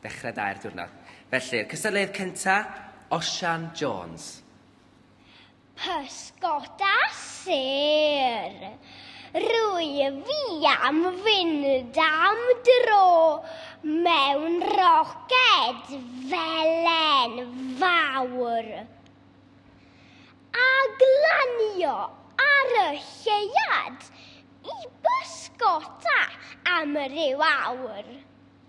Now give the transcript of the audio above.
Dechrau da i'r diwrnod. Felly'r cystadleuydd cynta, Osian Jones. Pysgota sur. Rwyf i am fynd am dro mewn roced felen fawr a glanio ar y lleuad i bysgota am ryw awr.